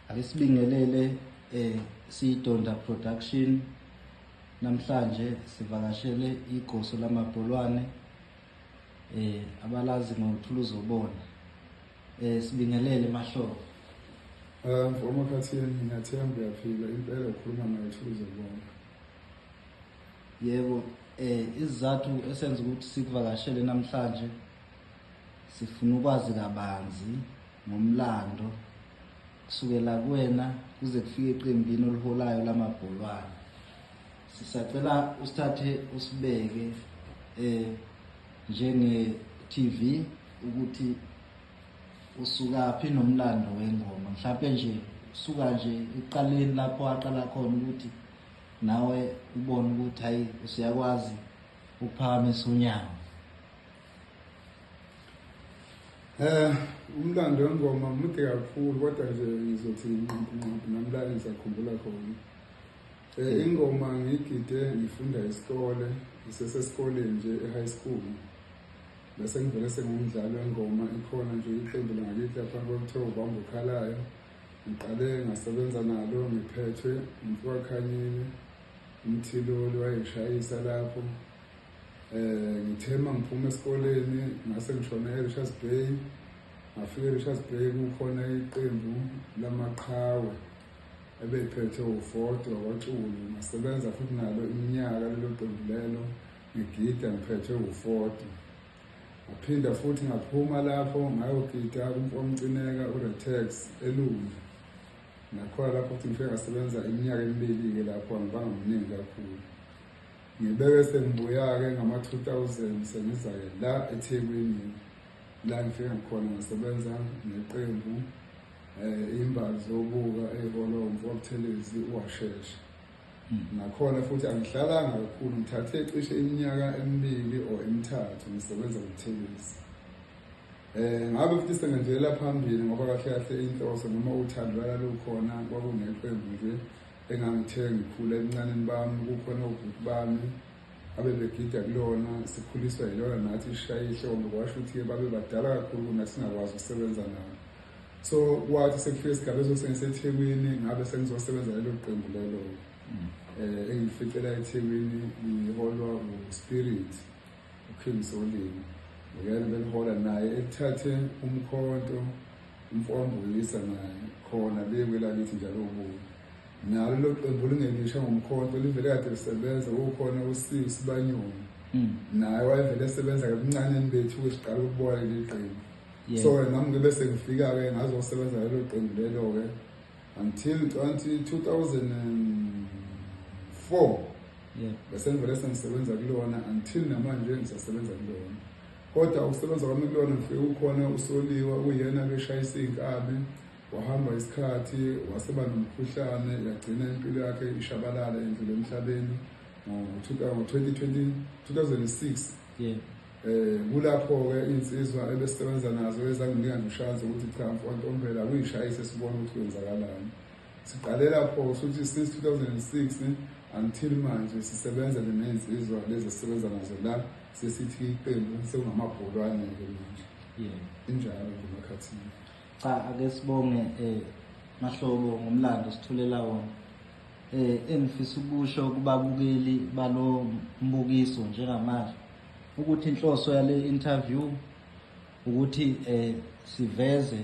Ake sibingelele eh Sidonda Production namhlanje sivakashele igoso lamabholwane eh abalazi ngothuluzo bona eh sibingelele mahlobo eh mfoma khathini ngingathemba uyaphila impela ukhuluma nayo thuluzo bona yebo eh izizathu esenza ukuthi sikuvakashele namhlanje sifuna ukwazi kabanzi ngomlando kusukela kuwena kuze kufike eqembini oliholayo lamabholwane sisacela usithathe usibeke eh njenge-TV ukuthi usukaphi nomlando wengoma mhlawumbe nje usuka nje ekuqaleni lapho waqala khona ukuthi nawe ubone ukuthi hayi usuyakwazi ukuphakamisa unyawo Eh umlando wengoma mude kakhulu kodwa nje ngizothi nqampu nqampu namlali sakhumbula khona. Eh ingoma ngigide ngifunda isikole ngisesesikoleni nje e-high school. Bese ngivele sengumdlali wengoma ikhona nje iqembu langakithi lapha kwakuthiwa ubamba ukhalayo. Ngiqale ngasebenza nalo ngiphethwe umfowakhe Khanyile umthiloli wayeshayisa lapho um ngithe uma ngiphuma esikoleni ngase ngishona e-richards bay ngafika e-richards bay kukhona iqembu lamaqhawe ebeyiphethe ufodo wakwaculu ngasebenza futhi nalo iminyaka lelo qembu lelo ngigida ngiphethe ufodo ngaphinda futhi ngaphuma lapho ngayogida kumfomcineka uretex elunga nakhona lapho futhi ngifike ngasebenza iminyaka emibili-ke lapho angibanga mningi kakhulu Ngibeke sengibuya-ke ngama-2000 sengiza-ke la eThekwini la ngifika ngikhona ngasebenza neqembu um eh, imbazi zobuka eyiholo mfobuthelezi uwashesha hmm. nakhona futhi angihlalanga kakhulu ngithathe cishe iminyaka emibili or emithathu ngisebenza kuthelezi um eh, ngabe futhi sengenjelela phambili ngoba kahle kahle inhloso noma uthando lalalukhona kwakuneqembu nje engangithe ngikhula ebuncaneni bami kukhona obhuti bami abebegida kulona sikhuliswa yilona nathi ishaye ihlombe kwasho ukuthi babe badala kakhulu kunathi singakwazi ukusebenza nabo so kwathi sekufika isigaba esosengisethekwini ngabe sengizosebenza lelo qembu lelo um engificela ethekwini ngiholwa nguspirit uKing Solini uyena belihola naye ethathe umkhonto umfo wambuyisa naye khona bekwe lakithi njalo ubuye nalo lo qembu lingelisha ngomkhonto livele kade lisebenza kukhona usiwu sibanyoni hmm. naye wayevele esebenza kabuncaneni bethu kwesiqala ukubona leli qembu so nami ngibe sengifika-ke ngazosebenza lelo qembu lelo-ke until 2004 yeah. bese ngivele sengisebenza kulona until namanje ngisasebenza kulona kodwa ukusebenza kwami kulona ngifike ukhona usoliwa uyena keshayisa iy'nkabi wahamba isikhathi waseba nomkhuhlane yagcina impilo yakhe ishabalala endlule emhlabeni ngo-2006 yeah. um kulapho-ke iy'nsizwa ebesisebenza nazo ezanginika noshansi ukuthi cha mfwantombela kuyishayise sibone ukuthi kwenzakalani siqale lapho-ke sokuthi since two thousand and six until manje sisebenza nenezinsizwa lezi esisebenza nazo la sesithi iqembu sekungamabholwane-ke manje injalo nje makhathini cha ake sibonge um mahlobo ngomlando sithulela wona um engifisa ukusho kubabukeli balo mbukiso njengamanje ukuthi inhloso yale interview ukuthi eh siveze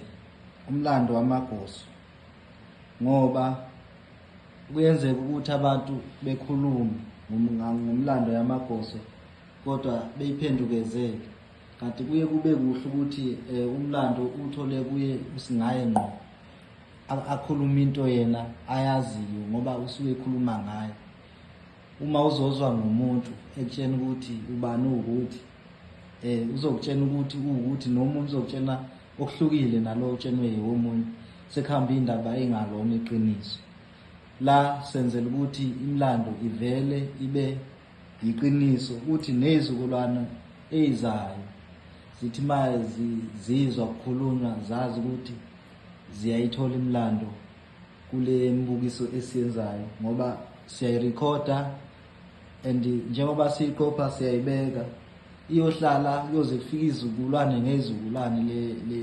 umlando wamagoso ngoba kuyenzeka ukuthi abantu bekhulume ngomlando yamagoso kodwa beyiphendukezele kanti kuye kube kuhle ukuthi eh, umlando uthole kuye usingaye ngqo akhuluma into yena ayaziyo ngoba usuke ekhuluma ngayo uma uzozwa ngomuntu ekutshena ukuthi ubani uwukuthi eh uzokutshena ukuthi uwukuthi nomuntu uzokutshena okuhlukile nalo utshenwe yiwomunye sekuhamba indaba engalona iqiniso la senzela ukuthi imlando ivele ibe yiqiniso ukuthi nezikulwana ezizayo zithi maye zizwa kukhulunywa zazi ukuthi ziyayithola imlando kule mbukiso esiyenzayo ngoba siyayirekhoda and njengoba siyiqopha siyayibeka iyohlala kuyoze kufike izizukulwane ngezizukulwane le le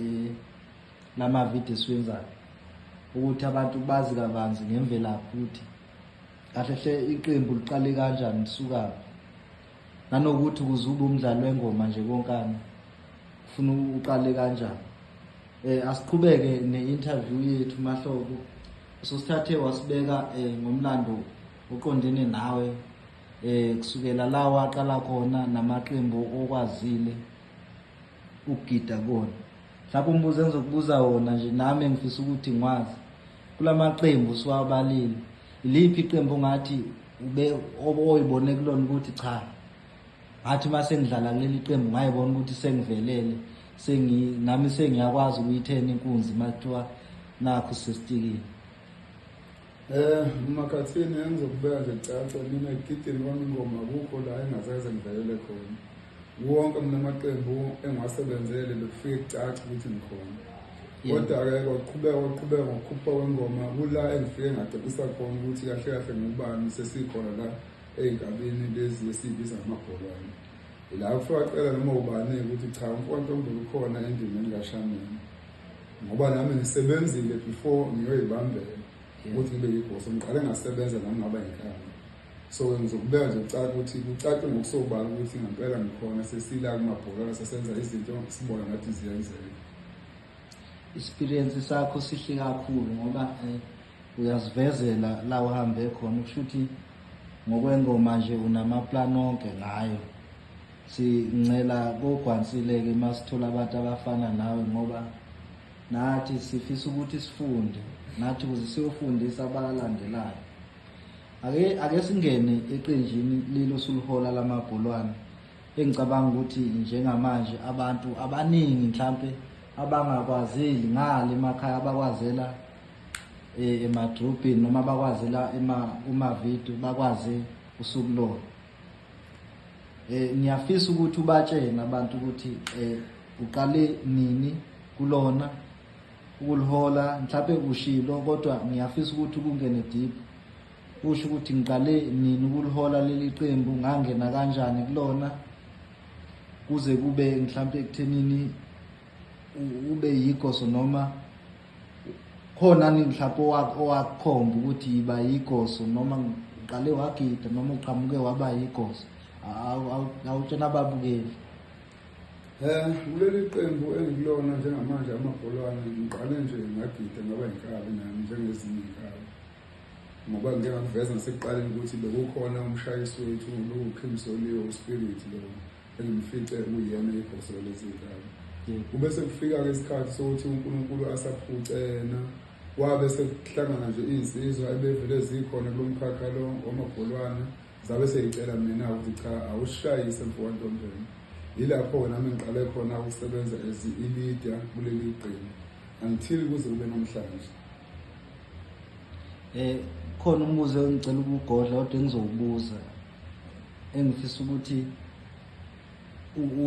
lamavidiyo esiwenzayo ukuthi abantu bazi kabanzi ngemvelaphi ukuthi kahle hle iqembu liqale kanjani lisukaphi nanokuthi ukuze ube umdlali wengoma nje konkana ufuna uqale kanjani eh asiqhubeke ne-interview yethu mahlobo usosithathe wasibeka eh ngomlando oqondene nawe eh kusukela la waqala khona namaqembu okwazile ukugida kona mhlawumbe umbuzo engizokubuza wona nje nami engifisa ukuthi ngwazi kula maqembu siwabalile iliphi iqembu ongathi ube oyibone kulona ukuthi cha ngathi uma sengidlala kuleli qembu ngayibona ukuthi sengivelele sengi nami sengiyakwazi ukuyithena inkunzi uma kuthiwa nakho sesitikile Eh makhathini engizokubeka nje caca mina egidini kwami ingoma kukho la engazeze ngivelele khona. Wonke mina amaqembu engiwasebenzele bekufike kucaca ukuthi ngikhona. Kodwa-ke kwaqhubeka kwaqhubeka ngokukhupha kwengoma kula engifike ngacebisa khona ukuthi kahle kahle ngubani sesikhona la ey'nkabini lezi esiyibiza ngamabholwane. Ila kufika cela noma ubani ukuthi cha umfowethu ombulu ukhona endimeni kashameni. ngoba nami ngisebenzile before ngiyoyibambela ukuthi ngibe yibhosi ngiqale ngasebenza nami ngaba yinkamba so ngizokubeka nje kucaca ukuthi kucace ngokusobala ukuthi ngempela ngikhona sesila kumabhola sesenza izinto sibona ngathi ziyenzeka experience sakho sihle kakhulu ngoba eh, uyazivezela la uhambe khona ukusho ukuthi ngokwengoma nje unamaplan onke ngayo Sincela kogwansileke uma sithola abantu abafana nawe ngoba nathi sifisa ukuthi sifunde nathi ukuze siyofundisa abalandelayo ake ake singene eqenjini lelo sulihola lamabholwane engicabanga ukuthi njengamanje abantu abaningi mhlampe abangakwazeli ngale emakhaya abakwazela eh, emadrobheni noma bakwazela kuma-video bakwaze usukulona Eh ngiyafisa ukuthi ubatshene abantu ukuthi eh uqale nini kulona ukulihola mhlawumbe ushilo kodwa ngiyafisa ukuthi kungene deep usho ukuthi ngiqale nini ukulihola leli qembu ngangena kanjani kulona kuze kube mhlawumbe ekuthenini ube yigoso noma khona ni mhlawumbe owakhomba ukuthi yiba yigoso noma ngiqale wagida noma uqhamuke waba yigoso awutshena ababukeli um kuleli qembu engikulona njengamanje amabholwane ngiqale nje ngagida ngaba yinkabi nami njengezinye inkabi ngoba ngike ngakuveza nasekuqaleni ukuthi bekukhona umshayisi wethu lukhimsoliwe uspirit lona engimfice kuyena ibhoselo lezingane kube sekufika-ke isikhathi sokuthi unkulunkulu asaphuce yena kwabe sekuhlangana nje iy'nsizwa ebevele zikhona kulo mkhakha lo wamabholwana zabe seyicela mina ukuthi cha awushayise mfowantombeni yilapho-ke nami ngiqale khona ukusebenza as i-leader kuleli qembu until kuze kube namhlanje um khona umbuzo engicela ukugodla kodwa engizowubuza engifisa ukuthi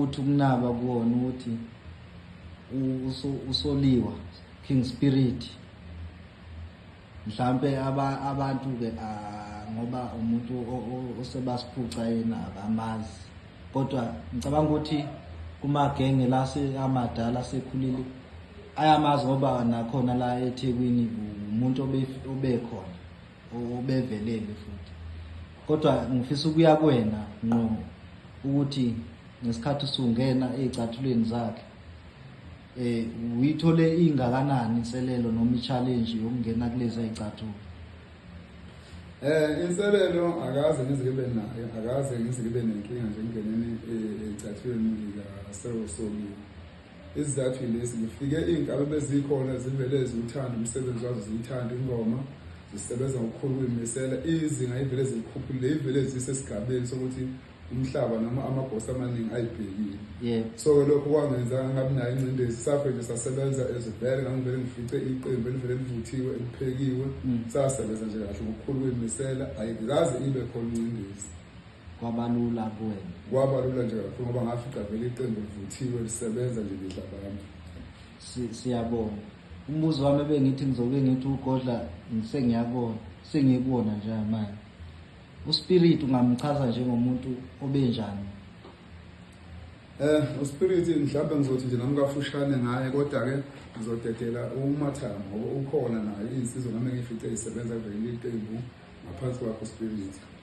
uthi ukunaba kuwona ukuthi usoliwa king spirit mhlambe abantu ke ngoba umuntu osebasiphuca yena abamazi kodwa ngicabanga ukuthi kumagenge la amadala sekhulile ayamazi ngoba nakhona la eThekwini umuntu obekhona obevelele futhi kodwa ngifisa ukuya kuwena nqo ukuthi ngesikhathi usungena ezicathulweni zakhe eh uyithole ingakanani inselelo noma i-challenge yokungena kulezi ezicathulo eh inselelo akaze ngizikibe nayo akaze ngizikibe nenkinga njengenene ezicathulweni zika sewusoliwe Isizathu yilesi, ngifike iy'nkalo bezikhona zivele ziwuthanda umsebenzi wazo ziyithanda ingoma zisebenza ngokukhulu ukuyimisela izinga ivele zilikhuphulile ivele zisesigabeni sokuthi umhlaba noma amagosi amaningi ayibhekile yeah. so-ke lokho kwangenza ngabi nayo incindezi safe nje sasebenza ezivele ngangivele ngifice iqembu elivele livuthiwe eliphekiwe mm. sasebenza nje kahle ngokukhulu ukuyimisela ayikaze ibe khona incindezi kwabalula kuwena kwabalula nje kakhulu ngoba ngafica vele iqembu livuthiwe lisebenza nje ngidla abantu siyabonga umbuzo wami ebengithi ngizobe ngithi ugodla sengiyabona sengiyibona nje manje uspirit ungamchaza njengomuntu obenjani eh uspirit mhlawumbe ngizothi nje nami kafushane ngaye kodwa ke ngizodedela umathanga ngoba ukhona naye insizwa nami ngifice isebenza vele iqembu ngaphansi kwakho spirit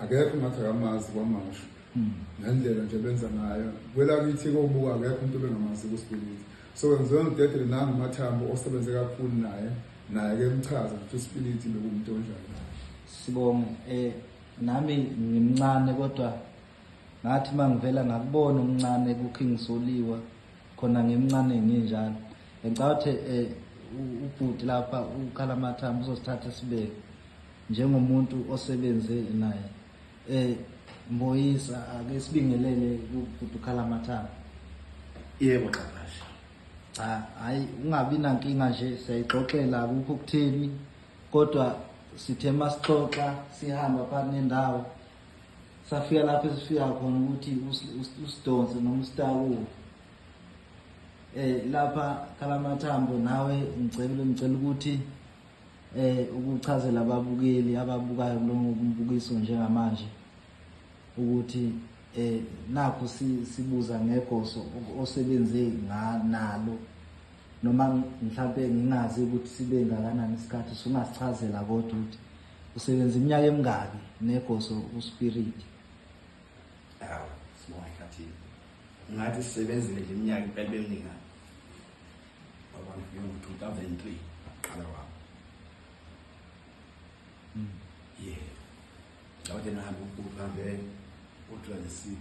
akekho ngathi akamazi kwamasho hmm. ngendlela nje benza ngayo kwelakithi kobuka akekho umuntu obengamazi kuspiliti so wenziwe ngidedele nangu mathambo osebenze kakhulu naye naye ke mchaza ukuthi uspiliti bekumuntu onjani sibonge eh nami ngimncane kodwa ngathi mangivela ngakubona umncane kuking soliwa khona ngimncane nginjalo ngicabanga ukuthi eh ubhuti lapha ukhala mathambo uzosithatha sibeke Njengomuntu osebenze naye eh Mboyisa ake sibingelele ukudukhala amathanga. Yebo Xabasha. Cha hayi ungabi nankinga nje siyayixoxela akukho kutheni kodwa sithe masixoxa sihamba phakathi nendawo safika lapho esifika khona ukuthi usidonse noma usitakuwe eh lapha khalamathambo nawe ngicela ngicela ukuthi Eh ukuchazela ababukeli ababukayo kulo mbukiso njengamanje ukuthi eh nakho sibuza ngegoso osebenze nalo noma mhlawumbe ngingazi ukuthi sibe ngakanani isikhathi sungasichazela kodwa ukuthi usebenza iminyaka emingaki negoso uspirit awu sibona ngathi ngathi sisebenzile iminyaka impela bemingaki 2003 qala wabo mm. yeah ngawade nahamba ukuhambe u-26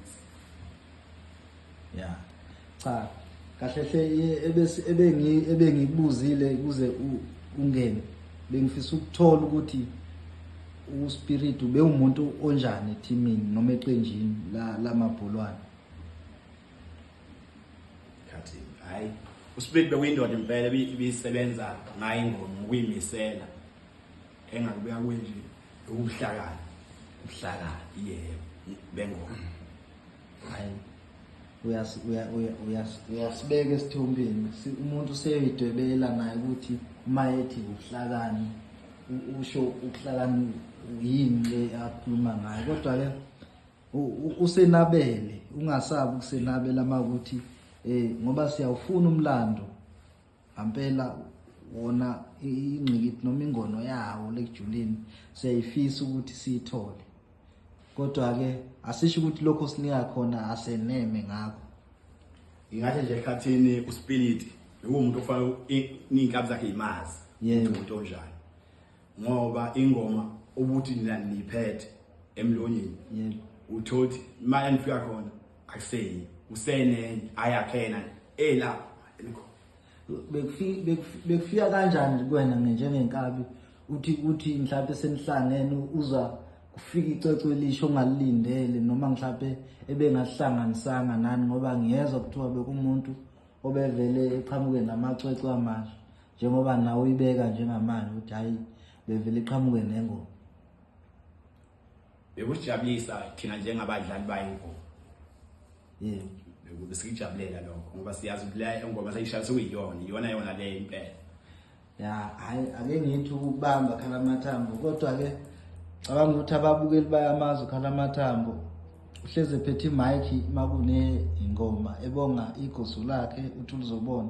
ya cha kahle hle ebengikubuzile kuze ungene bengifisa ukuthola ukuthi uspirit ubewumuntu onjani ethimini noma eqenjini lamabholwane la khathi hayi uSplit bekuyindoda impela ibisebenza ngayo ingoma ukuyimisela engakubuya kwenje ukuhlakana ukuhlakana yebo bengoma hayi uyasibeka esithombeni umuntu seyidwebela naye ukuthi uma ethi ubuhlakani usho ubuhlakani yini le akhuluma ngayo kodwa-ke usenabele ungasabi ukusenabela uma ukuthi um eh, ngoba siyawufuna umlando ngampela wona ingqikithi noma ingono yawo lekujuleni siyayifisa ukuthi siyithole kodwa-ke asisho ukuthi lokho sinika khona aseneme ngakho ingathi nje ekhathini uspiliti bekuwumuntu okufanele iy'nkabi zakhe yimazi umuntu onjani ngoba ingoma ubuthi nina niphethe emlonyeni yebo uthothi imali enifika khona akuseyi usenenye ayakhena elapho enikho bekufika bekufika kanjani kwena njengenkabi uthi uthi mhlawumbe senihlangene uzwa kufika icwecwe elisho ongalilindele noma mhlawumbe ebengahlanganisanga nani ngoba ngiyezwa kuthiwa bekumuntu obevele eqhamuke namacwecwe amasha njengoba nawe uyibeka njengamanje ukuthi hayi bevele iqhamuke nengoma bekusijabulisa thina njengabadlali bayingoma yebo bekude siyijabulela lokho ngoba siyazi ukuthi la engoma sayishaya sekuyiyona iyona yona le impela ya hayi ake ngithi ukubamba khala amathambo kodwa ke cabanga ukuthi ababukeli bayamazi ukhala amathambo uhleze phethe imike makune ingoma ebonga igosu lakhe uthi ulizobona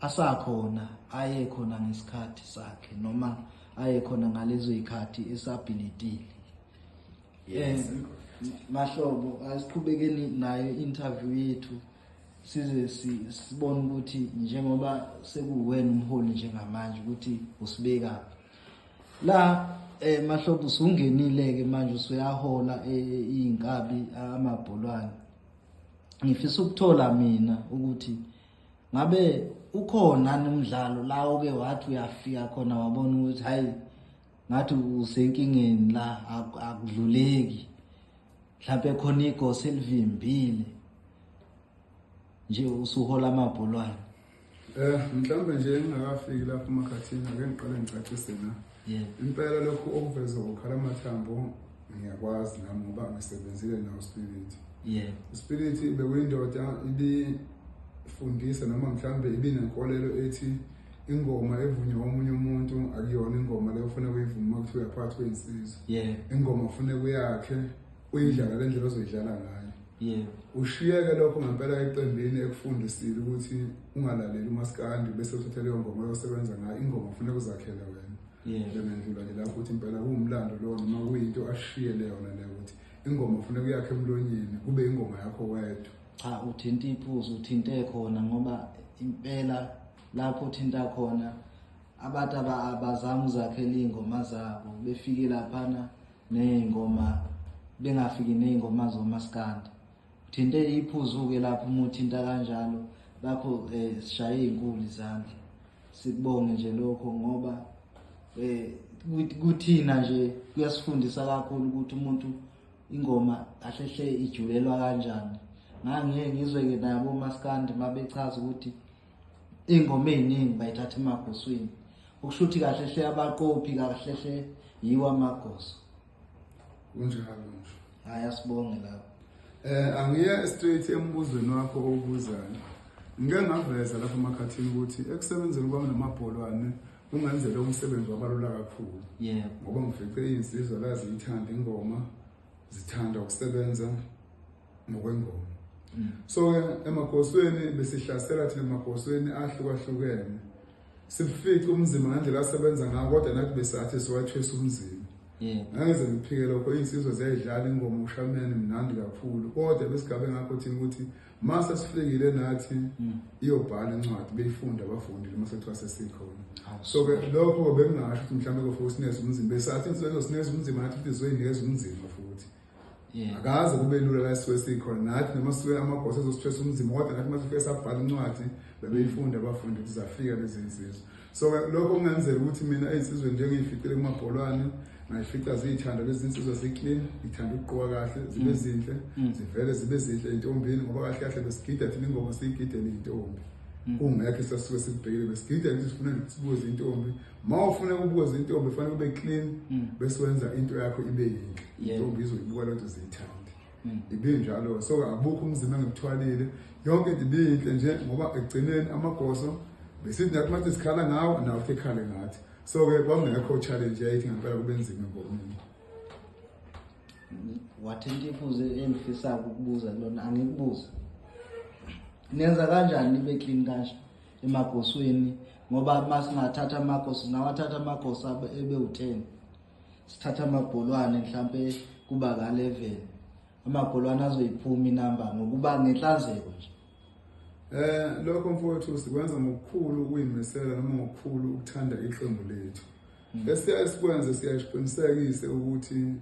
asakhona aye khona ngesikhathi sakhe noma aye khona ngalezo ikhathi esabilitile yes mahlobo asiqhubekeni nayo interview yethu size sibone ukuthi njengoba sekuwena umholi njengamanje ukuthi usibeka la eh mahlobo usungenile ke manje usuyahola eh, izinkabi amabholwane ngifisa ukuthola mina ukuthi ngabe ukhona nomdlalo la oke wathi uyafika khona wabona ukuthi hayi ngathi usenkingeni la akudluleki mhlawumbe khona igosi elivimbile nje usuhola amabholwane eh mhlawumbe nje engingakafiki lapho emakhathini ake ngiqale ngicacise na impela lokhu okuvezwa ukhala mathambo ngiyakwazi nami ngoba ngisebenzile nawo spirit yeah spirit bekuyindoda ibifundisa noma mhlambe ibinenkolelo ethi ingoma evunywa omunye umuntu akuyona ingoma leyo ufuna kuyivuma ukuthi uyaphathwa insizwa yeah ingoma ufuna kuyakhe uyidlala le ndlela ozoyidlala ngayo yebo ushiyeke lokho ngempela eqembini ekufundisile ukuthi ungalaleli umaskandi bese uthatha leyo ngoma oyosebenza ngayo ingoma kufuneka uzakhele wena yebo ngendlula nje lapho ukuthi impela kuwumlando lowo noma kuyinto ashiye leyona leyo ukuthi ingoma kufuneka uyakhe emlonyeni kube ingoma yakho wedwa cha uthinta iphuzu uthinte khona ngoba impela lapho uthinta khona abantu abazama uzakhela iy'ngoma zabo befike laphana ney'ngoma bengafiki ney'ngoma zomaskandi uthinte iphuzu-ke lapho uma uthinta kanjalo lapho um eh, sishaye iy'nkulu izandla sikubonge nje lokho ngoba um kuthina nje kuyasifundisa kakhulu ukuthi umuntu ingoma ahlehle ijulelwa kanjani ngangiye ngizwe-ke nabo omaskandi uma bechaza ukuthi ingoma eziningi bayithatha emagoswini ukusho ukuthi kahle hle abaqophi kahle hle yiwo amagoso kunjalo nje hayi asibonge lapho eh angiye straight embuzweni wakho obuzana ngike ngaveza lapha emakhathini ukuthi ekusebenzeni kwami namabholwane kungenzela umsebenzi wabalula kakhulu yebo ngoba ngifice izinsizwa la ziyithanda ingoma zithanda ukusebenza ngokwengoma mm. so ke emagosweni besihlasela thina emagosweni ahlukahlukene sifice umzimba ngandlela asebenza ngayo kodwa nathi besathi siwathwesa umzimba ngangeze ngiphike lokho iy'nsizwa ziyayidlala ingoma ushameni mnandi kakhulu kodwa besigabe ngakho thina ukuthi ma sesifikile nathi mm. iyobhala incwadi beyifunda abafundile uma sekuthiwa sesikhona so-ke lokho bengingasho ukuthi mhlawumbe kofuthi sineza umzimba esathi insizo sineza umzimba nathi futhi sizoyinikeza umzimba futhi Yeah. akaze kube lula la sisuke sikhona nathi noma sisuke amagosa ezostress umzimba kodwa nathi uma sifike sabhala incwadi bebeyifunda abafundi ukuthi zafika lezi nsizwa so lokho kungenzeka ukuthi mina ezinsizweni njengeyificile kumabholwane ngayifica ziyithanda lezi nsizwa ziclean ngithanda ukuqoka kahle zibe mm. zinhle mm. zivele zibe zinhle entombini ngoba kahle kahle besigida thina ingoma siyigidele intombi kungekho sasuke sikubhekile besigida ukuthi sifuna sibuze intombi ma ufuna ukubuza intombi fanele ube clean mm. bese wenza into yakho ibe yinhle intombi izoyibuka lento ziyithande mm. ibe njalo so abukho umzimba ngimthwalile yonke into ibinhle nje ngoba egcineni amagoso besithi nathi mathi sikhala ngawo nawo ekhale ngathi so ke kwangekho challenge yayithi ngempela kube nzima ngomini wathinta ifuze engifisa ukubuza kulona angikubuza nenza kanjani nibe clean kanje emagosweni ngoba uma singathatha amagosi singawathatha amagosi ebe u-ten sithatha amabholwane mhlampe kuba ka-eleven amabholwane azoyiphuma inamba ngokuba ngenhlanzeko nje Eh lokho mfowethu sikwenza ngokukhulu ukuyimisela noma ngokukhulu ukuthanda iqembu lethu. Hmm. Esiyaye sikwenze siyayiqinisekise ukuthi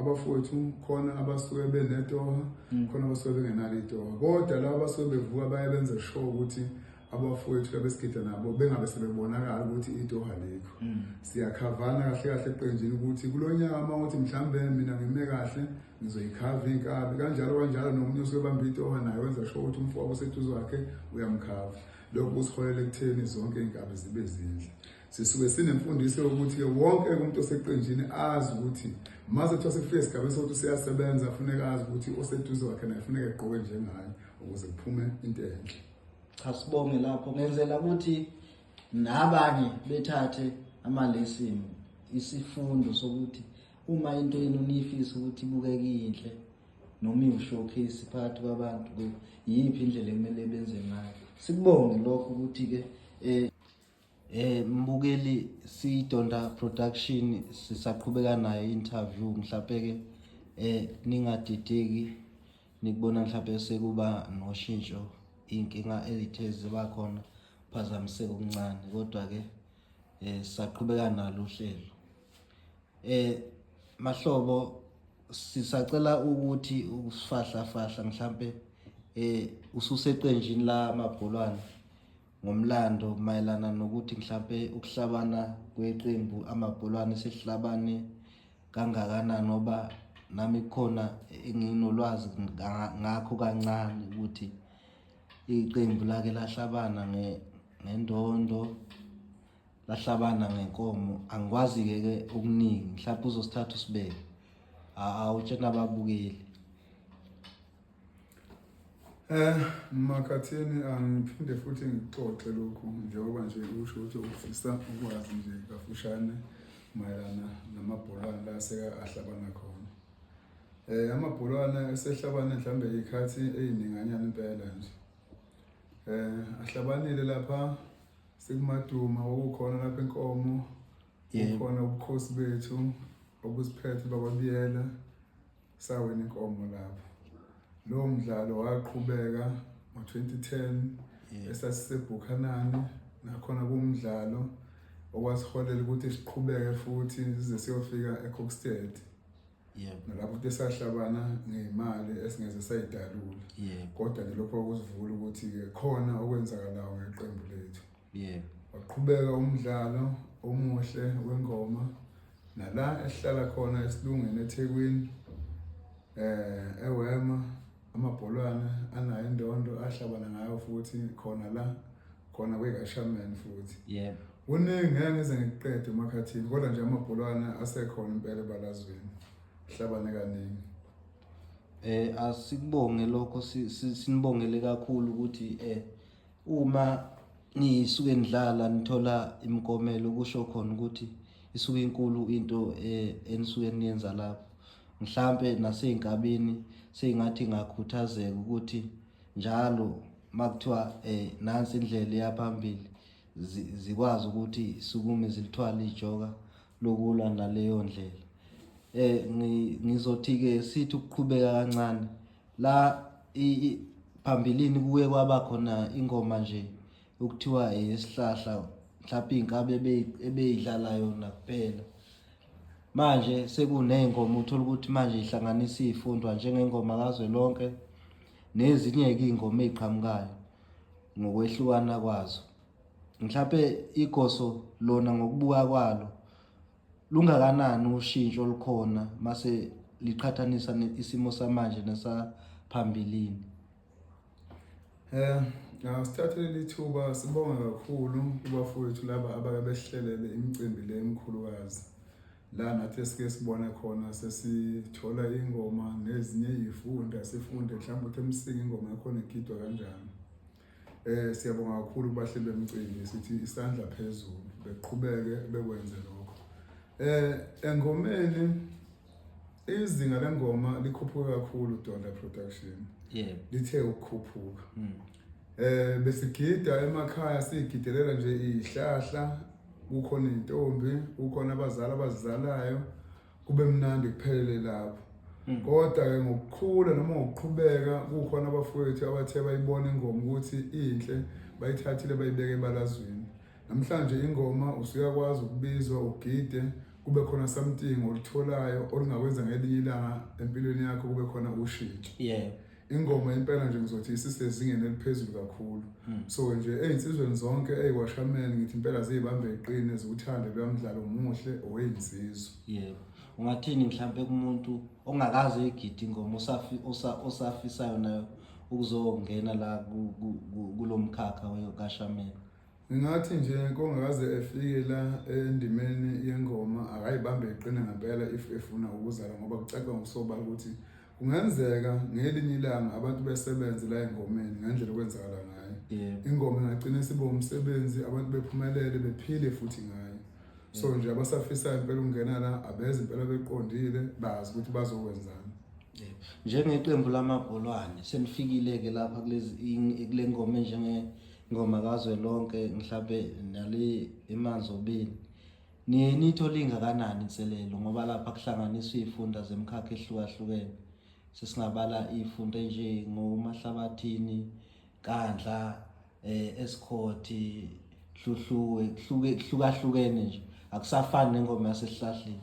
abafowethu khona abasuke benetoha mm. khona abasuke bengenalo itoha kodwa laba abasuke bevuka baye benze sure ukuthi abafowethu abesigida nabo bengabe sebebonakala ukuthi itoha likho mm. siyakhavana kahle kahle eqenjini ukuthi kulo nyaka uma ukuthi mhlawumbe mina ngime kahle ngizoyikhava iy'nkabi kanjalo kanjalo nomunye osuke bamba itoha naye wenza sure ukuthi umfowabo useduze wakhe uyamkhava lokhu kusiholele ekutheni zonke iy'nkabi zibe zindle Sisuke sinemfundiso yokuthi ke wonke umuntu oseqenjini azi ukuthi maze kuthiwa sekufike esigabeni sokuthi useyasebenza funeka azi ukuthi oseduze wakhe naye funeka egqoke njengaye ukuze kuphume into enhle. Cha sibonge lapho ngenzela ukuthi nabanye bethathe amalesson isifundo sokuthi uma into yenu niyifisa ukuthi ibukeke inhle noma iwushowcase phakathi kwabantu yiphi indlela ekumele benze ngayo. Sikubonge lokho ukuthi-ke um Eh mbukeli siyidonda production sisaqhubeka nayo interview mhlawumbe ke eh ningadideki nikubona mhlawumbe sekuba noshintsho inkinga elithe ziba khona phazamiseka okuncane kodwa ke eh saqhubeka nalo uhlelo eh mahlobo sisacela ukuthi usifahla fahla mhlambe eh ususeqenjini la mabholwane ngomlando mayelana nokuthi mhlampe ukuhlabana kweqembu amabholwane sehlabane kangakanani ngoba nami khona enginolwazi ngakho kancane ukuthi iqembu lake lahlabana ngendondo lahlabana ngenkomo angikwazi-ke ke okuningi mhlawumpe uzosithatha usibeke awutshena ababukeli Eh makhathini angiphinde futhi ngixoxe lokhu njengoba nje usho ukuthi ufisa ukwazi nje kafushane mayelana namabholwana la seka ahlabana khona. Eh amabholwana esehlabane mhlambe ikhathi ezininganyana impela nje. Eh ahlabanile lapha sekumaduma okukhona lapha enkomo kukhona ubukhosi bethu obusiphethe bakwabiyela Sawina inkomo lapho. Lo mdlalo waqhubeka ngo-2010 esasiseBhukhanani nakhona kumdlalo okwasiholela ukuthi siqhubeke futhi size siyofika eCookstead. Yebo. Nalapho futhi sahlabana ngemali esingeze sayidalula. Yebo. Kodwa ke lokho kusivula ukuthi ke khona okwenzakalayo ngeqembu lethu. Yeah. Waqhubeka umdlalo omuhle wengoma nala esihlala khona esilungeni eThekwini eh eWema amabholwana anayo indondo ahlabana ngayo futhi khona la khona kweKashaman futhi. Yebo. Kuningi ngeke ngize ngikuqede umakhathini kodwa nje amabholwana asekhona impela ebalazweni. Hlabane kaningi. Eh asikubonge lokho sinibongele kakhulu ukuthi eh uma nisuke nidlala nithola imikomelo kusho khona ukuthi isuke inkulu into eh, enisuke niyenza lapho mhlampe nasey'nkabeni sey'ngathi ngakhuthazeka ukuthi njalo uma kuthiwa um eh, nansi indlela eyaphambili zikwazi ukuthi sukume zilithwale ijoka lokulwa naleyo ndlela um ngizothi-ke sithi ukuqhubeka kancane la phambilini kuye kwaba khona ingoma nje okuthiwa eyesihlahla mhlawumpe iy'nkabi ebeyidlala yona kuphela manje sekuney'ngoma uthole ukuthi manje ihlanganisa iy'fundwa njengengoma kazwe lonke nezinye-ke iy'ngoma ey'qhamukayo ngokwehlukana kwazo mhlawumpe igoso lona ngokubuka kwalo Lungakanani ushintsho olukhona mase liqhathanisa isimo samanje nesaphambilini? Eh, asithathele lithuba sibonga kakhulu kubafowethu laba abake besihlelele imicimbi le emkhulukazi. La nathi esike sibone khona sesithola ingoma nezinye izifunda sifunde mhlawumbe ukuthi emsinga ingoma yakhona igidwa kanjani. Eh siyabonga kakhulu kubahleli bemcimbi sithi isandla phezulu beqhubeke bekwenze lokho. Eh engomeni izinga lengoma likhuphuke kakhulu Donda Production. Yebo. Lithe ukukhuphuka. Mm. Eh besigida emakhaya sigidelela nje ihlahla kukhona intombi kukhona abazali abazizalayo kube mnandi kuphelele lapho hmm. kodwa ke ngokukhula noma ngokuqhubeka kukhona abafowethu abathe bayibona ingoma ukuthi inhle bayithathile bayibeke ebalazweni namhlanje ingoma usuyakwazi ukubizwa ugide kube khona something olitholayo olungakwenza ngelinye ilanga empilweni yakho kube khona ushintsho yeah ingoma impela nje ngizothi isisezingeni eliphezulu kakhulu hmm. so nje eyinsizweni zonke eyiwashameni ngithi impela ziyibambe iqine ziwuthande luyamdlalo muhle oweyinsizwa yebo ungathini mhlawumbe kumuntu ongakazi uyigidi ingoma osafisayo nayo ukuzongena la kulo mkhakha kashameni Ngingathi nje kongakaze efike la endimeni yengoma akayibambe iqine ngempela if efuna ukuzala ngoba kucaca ngokusobala ukuthi kungenzeka ngelinye ilanga abantu besebenze la engomeni ngendlela okwenzakala ngayo ingoma ingagcina isibe umsebenzi abantu bephumelele bephile futhi ngayo so nje abasafisayo impela ukungena la abeze impela beqondile bazi ukuthi bazokwenzani njengeqembu lamabholwane senifikile-ke lapha kulezi kule ngoma njenge Ngoma kazwe lonke mhlampe nali imanzi obini. Niye nitho lingakanani inselelo ngoba lapha kuhlanganiswa izifunda zemkhakha ehlukahlukene. Sesingabala izifunda nje ngomahlabathini, Kandla, eh esikhothi, Dludluwe, kuhluke kuhlukahlukene nje. Akusafani nengoma yasesihlahleni.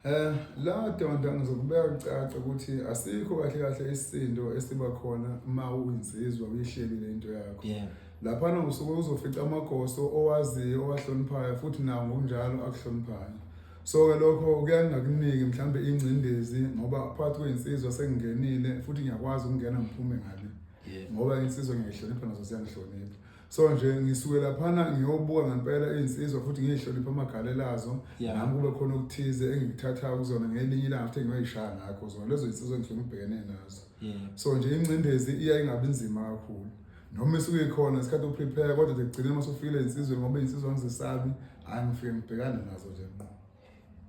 Eh la donda ngizokubeka kucaca ukuthi asikho kahle kahle isindo esiba khona uma uyinsizwa uyihlelile into yakho. Yeah. Lapha nokusuke uzofica amagoso owaziyo owahloniphayo futhi nawo ngokunjalo akuhloniphayo. So ke lokho kuyangakuniki mhlambe ingcindezi ngoba phakathi kwensizwa sengingenile futhi ngiyakwazi ukungena ngiphume ngale. Yeah. Ngoba insizwa ngiyihlonipha nazo siyangihlonipha. so nje ngisuke laphana ngiyobuka ngempela iy'nsizwa futhi ngiyihlonipha amagalela azo Yeah. nami kube khona okuthize engikuthathayo kuzona ngelinye ilanga futhi engiyoyishaya ngakho zona lezo y'nsizwa engisuke ngibhekene nazo Yeah. so nje ingcindezi iya ingabi nzima kakhulu noma isuke ikhona isikhathi uprepare kodwa nje kugcine uma sufikile ey'nsizweni ngoba iy'nsizwa ngizisabi hhayi ngifike ngibhekane nazo nje nqo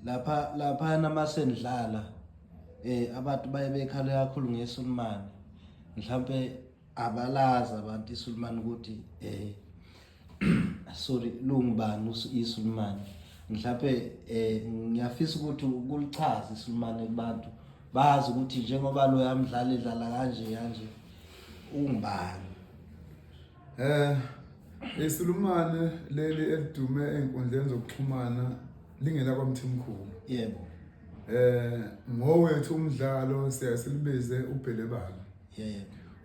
lapha laphana uma senidlala um abantu baye bekhale kakhulu ngesulumane mhlawumpe abalazi abantu iSulumane ukuthi eh sorry lungubani iSulumane mhlawumbe eh ngiyafisa ukuthi ukulichaza iSulumane kubantu bazi ukuthi njengoba lo yamdlala edlala kanje kanje ungubani eh iSulumane leli elidume enkundleni zokuxhumana lingela kwaMthimkhulu yebo eh ngowethu umdlalo siyasilibize ubhelebala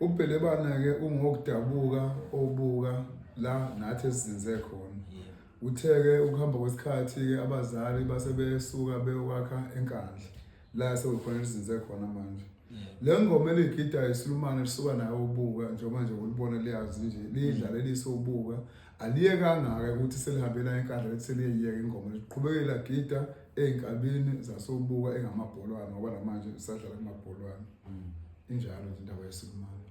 ubhelebana-ke ungokudabuka obuka la nathi esizinze khona uthe-ke ukuhamba kwesikhathi-ke abazali base besuka beyokwakha enkandla la sekukhona esizinze khona manje le ngoma eligida isilumane lisuka nayo ubuka njengoba nje ulibona liyazi nje lidlale lisubuka aliye kangaka ukuthi selihambela enkandla lethi seliyeyeka ingoma liqhubekela gida ezinkabini zasobuka engamabholwana ngoba namanje lisadlala kumabholwana Mm. Injalo nje indaba yeSikumane.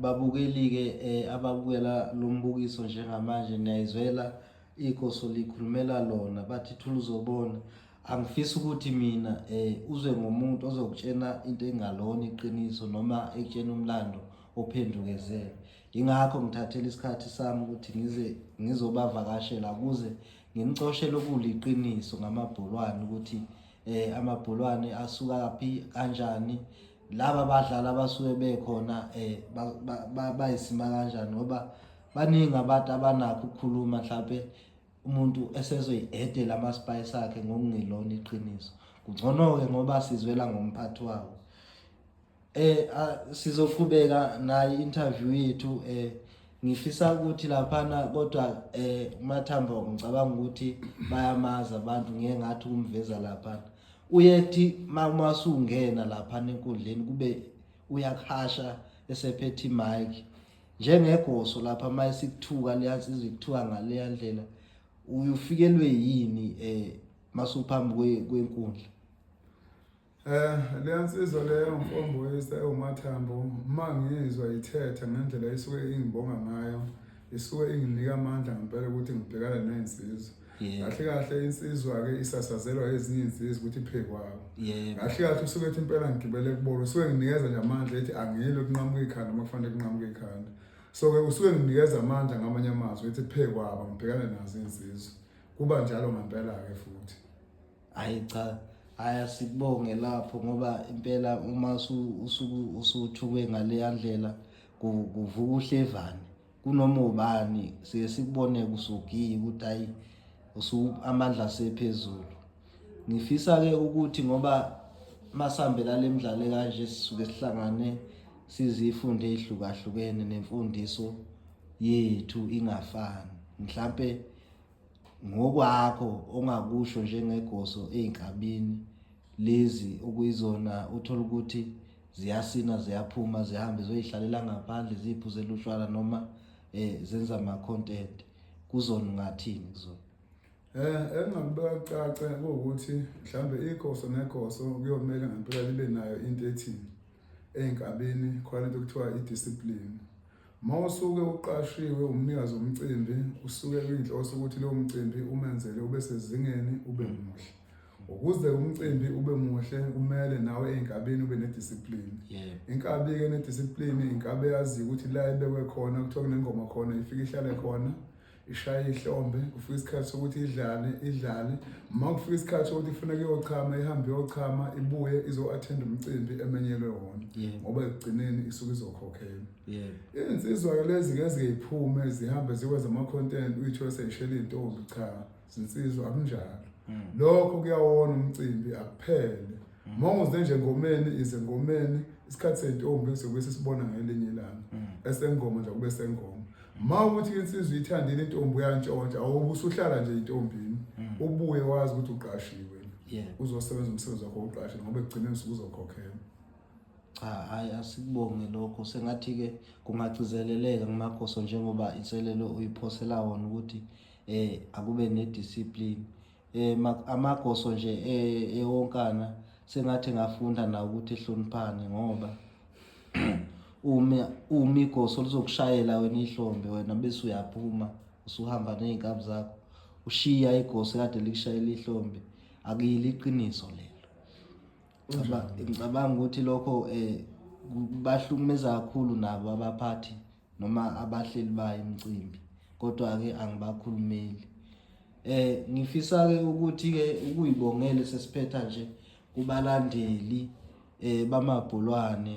Babukeli-ke eh, ababukela lo mbukiso njengamanje niyayizwela ikoso likhulumela lona bathi thula uzobona angifisi ukuthi mina eh uzwe ngomuntu ozokutshena into engalona iqiniso noma ekutshena umlando ophendukezele ingakho ngithathela isikhathi sami ukuthi ngize ngizobavakashela kuze ngimcoshele okuliqiniso ngamabholwane ukuthi eh amabhulwane asuka kaphi kanjani laba badlali abasuke bekhona eh bayisima kanjani ngoba baningi abantu abanakho ukukhuluma mhlawumbe umuntu esezoyi-edela ama-spice akhe ngokungelona iqiniso kungcono-ke ngoba sizwela ngomphathi wawo Eh sizoqhubeka nayi interview yethu eh ngifisa ukuthi laphana kodwa eh uMathamba ngicabanga ukuthi bayamazi abantu ngeke ngathi kumveza laphana uyethi uma usungena laphana enkundleni kube uyakhasha esephethe mic njengegoso lapha uma esikuthuka liyazizwa ikuthuka ngaleya ndlela uyufikelwe yini eh masuphambi kwenkundla Eh leya nsizwa leyo mfomboyisa ewumathambo uma ngizwa ithetha ngendlela isuke ingibonga ngayo isuke inginika amandla ngempela ukuthi ngibhekane nezinsizwa kahle kahle insizwa ke isasazelwa ezinye insizwa ukuthi iphekwako kahle kahle usuke ethi impela ngigibele kubona usuke nginikeza nje amandla ethi angiyile kunqamuka ikhanda uma kufanele kunqamuka ikhanda so ke usuke nginikeza amandla ngamanye amazwi ethi phekwaba ngibhekane nazo insizwa kuba njalo ngempela ke futhi hayi cha hayi asikubonge lapho ngoba impela uma usuku usuthukwe ngaleya ndlela kuvuka uhlevane kunoma ubani siye sikubone kusugiye ukuthi hayi amandla asephezulu ngifisa ke ukuthi ngoba masihambela le mdlalo kanje sisuke sihlangane sizifunde ezihlukahlukene nemfundiso yethu ingafani mhlampe Ngokwakho ongakusho njengegoso ezinkabini lezi okuyizona uthola ukuthi ziyasina ziyaphuma zihambe zoyihlalela ngaphandle ziphuze lushwala noma eh zenza ama content kuzona ungathini kuzona Eh engakubeka caca ukuthi mhlambe igoso negoso kuyomela ngempela libe nayo into ethini ey'nkabini khona into okuthiwa i-discipline uma usuke uqashiwe umnikazi womcimbi usuke uyinhloso ukuthi lowo mcimbi umenzele ube sezingeni ube muhle ukuze umcimbi ube muhle kumele nawe ey'nkabini ube nediscipline inkabi-ke nediscipline inkabi eyaziyo ukuthi la ibekwe khona kuthiwa kunengoma khona ifike ihlale khona ishaye ihlombe kufika isikhathi sokuthi idlale idlale uma kufika isikhathi sokuthi ifuna kuyochama ihambe iyochama ibuye izo-attend umcimbi emenyelwe wona ngoba ekugcineni isuke izokhokhela izinsizwa-ke lezi-ke ezingeyiphume zihambe zikwenza ama-content uyithole seyishela iy'ntombi cha zinsizwa akunjalo hmm. lokho kuyawona umcimbi akuphele hmm. uma unguze nje ngomeni ize ngomeni isikhathi sey'ntombi sobe sisibona ngelinye ilanga hmm. esengoma nje kube sengoma ma ukuthi insizwa uyithandile intombi uyantshontsha awube usuhlala nje intombini mm. ubuye wazi ukuthi uqashiwe uzosebenza umsebenzi wakho uqashe ngoba ekugcineni usuke uzokhokhelwa cha hayi asikubonge lokho sengathi-ke kungagcizeleleka ngumagoso njengoba inselelo uyiphosela wona ukuthi um akube nediscipline eh amagoso nje eh, ewonkana sengathi ngafunda na ukuthi hloniphane ngoba uma uma igoso lizokushayela wena ihlombe wena bese uyaphuma usuhamba nezinkabi zakho ushiya igoso kade likushayela ihlombe akuyili iqiniso lelo ngicabanga ukuthi lokho eh bahlukumeza kakhulu nabo abaphathi noma abahleli bayo imicimbi kodwa-ke angibakhulumeli eh ngifisa-ke ukuthi-ke ukuyibongele sesiphetha nje kubalandeli eh bamabhulwane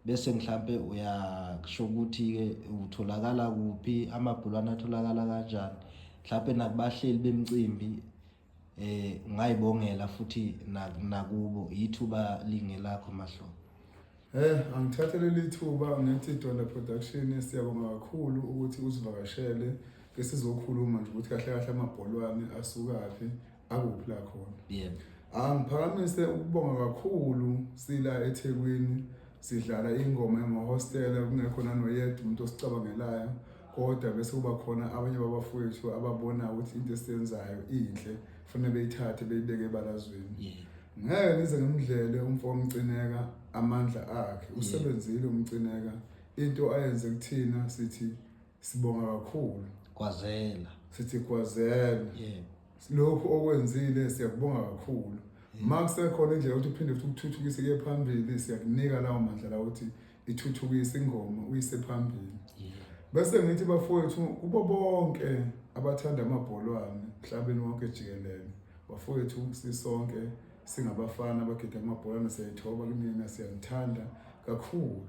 bese mhlampe uyasho ukuthi-ke utholakala kuphi amabhulwane atholakala kanjani mhlampe nakubahleli bemicimbi eh ngayibongela futhi nakubo yithuba lingelakho mahlo Eh angithathele lithuba ngithi Donda Production siyabonga kakhulu ukuthi usivakashele ke sizokhuluma nje ukuthi kahle kahle amabholwane asukaphi akuphi la khona yebo angiphakamise ukubonga kakhulu sila eThekwini sidlala ingoma yamahostela kungekho nanoyedwa umuntu osicabangelayo kodwa bese kuba khona abanye babafowethu ababona ukuthi into esiyenzayo inhle kufanele beyithathe beyibeke ebalazweni ngeke nize ngimdlele umfo omcineka amandla akhe usebenzile umcineka into ayenze kuthina sithi sibonga kakhulu kwazela sithi kwazela yebo lokhu okwenzile siyakubonga kakhulu ma kusekhona indlela ukuthi uphinde futhi ukuthuthukise kuye phambili siyakunika lawo mandla lawo ukuthi ithuthukisa ingoma uyise phambili bese ngithi bafowethu kubo bonke abathanda amabholwane mhlabeni wonke jikelele bafowethu sisonke singabafana abagida amabholwane siyayithoba kumina siyanithanda kakhulu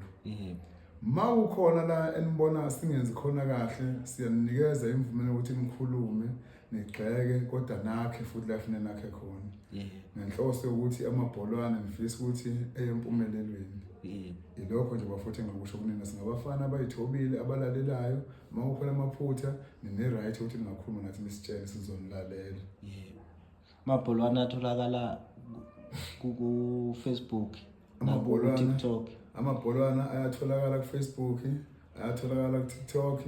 ma kukhona la enibona singenzi khona kahle siyaninikeza imvume yokuthi nikhulume nigxeke kodwa nakhe futhi la funa nakhe khona ngenhloso yokuthi amabholwane ngifisa ukuthi eyempumelelweni ilokho nje bafuthi engakusho kunina singabafana abayithobile abalalelayo uma kukhona amaphutha nine-right ukuthi ningakhuluma nathi nisitshele sizonilalela Amabholwana atholakala ku- ku-Facebook Amabholwana. naku-TikTok. amabholwana ayatholakala kufacebook ayatholakala kutiktok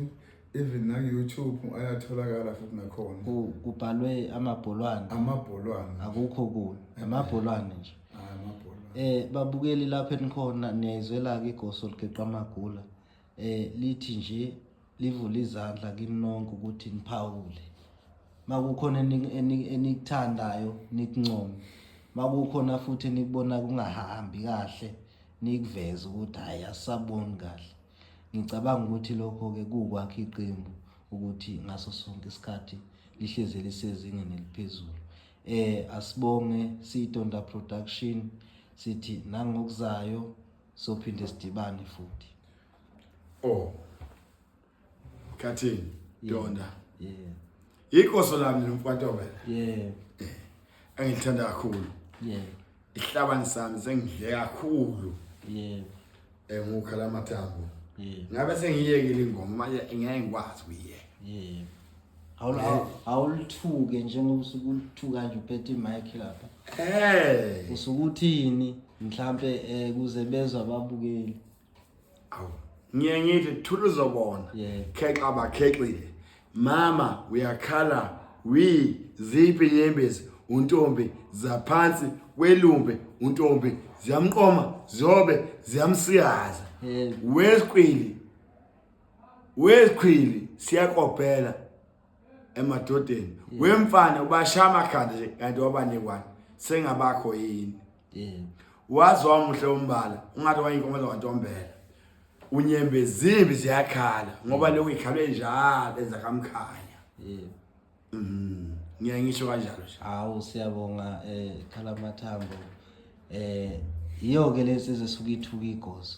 even naku-youtube ayatholakala futhi nakhona Ku- Kubhalwe amabholwana amabholwana akukho kunye amabholwane nje. Hhayi, amabholwana Eh babukeli lapho enikhona niyayizwela-ke igoso ligeqa amagula. eh lithi nje livule izandla kini nonke ukuthi niphawule makukhona enikuthandayo nikuncome makukhona futhi enikubona kungahambi kahle nikuveze ukuthi hayi asaboni kahle ngicabanga ukuthi lokho-ke kuwukwakha iqembu ukuthi ngaso sonke isikhathi lihleze lisezingeni eliphezulu eh asibonge siyitonda production sithi nangokuzayo sophinde sidibane futhi oh khathini donda yeah ikoso lami nomfatobe yeah engithanda kakhulu yeah ihlabani sami sengidle kakhulu yeah engukhala amathambo yeah ngabe sengiyekile ingoma manje ngeke ngikwazi kuyiyeka yeah awulithuke njengoba usuke ulithuka nje uphethe imic lapha hey usuke uthini mhlambe eh, kuze bezwe ababukeli awu ngiye ngithi thula uzobona khexa bakhexile mama uyakhala wi ziphi inyembezi untombi zaphansi kwelumbe untombi ziyamqoma zobe ziyamsiyaza wesqili wezikhwili siyakopela emadodeni wemfana ubasha amakhanda nje kanti wabanekwane sengabakho yini waze wamuhle umbala ungathi wayinkomo zawantombela unyembe zimbi ziyakhala ngoba lokhu ikhalwe njalo enza kamkhaya mhm. ngiyaye ngisho kanjalo nje hawu siyabonga eh khala mathambo eh yiyo ke lensizwe suke ithuka igozo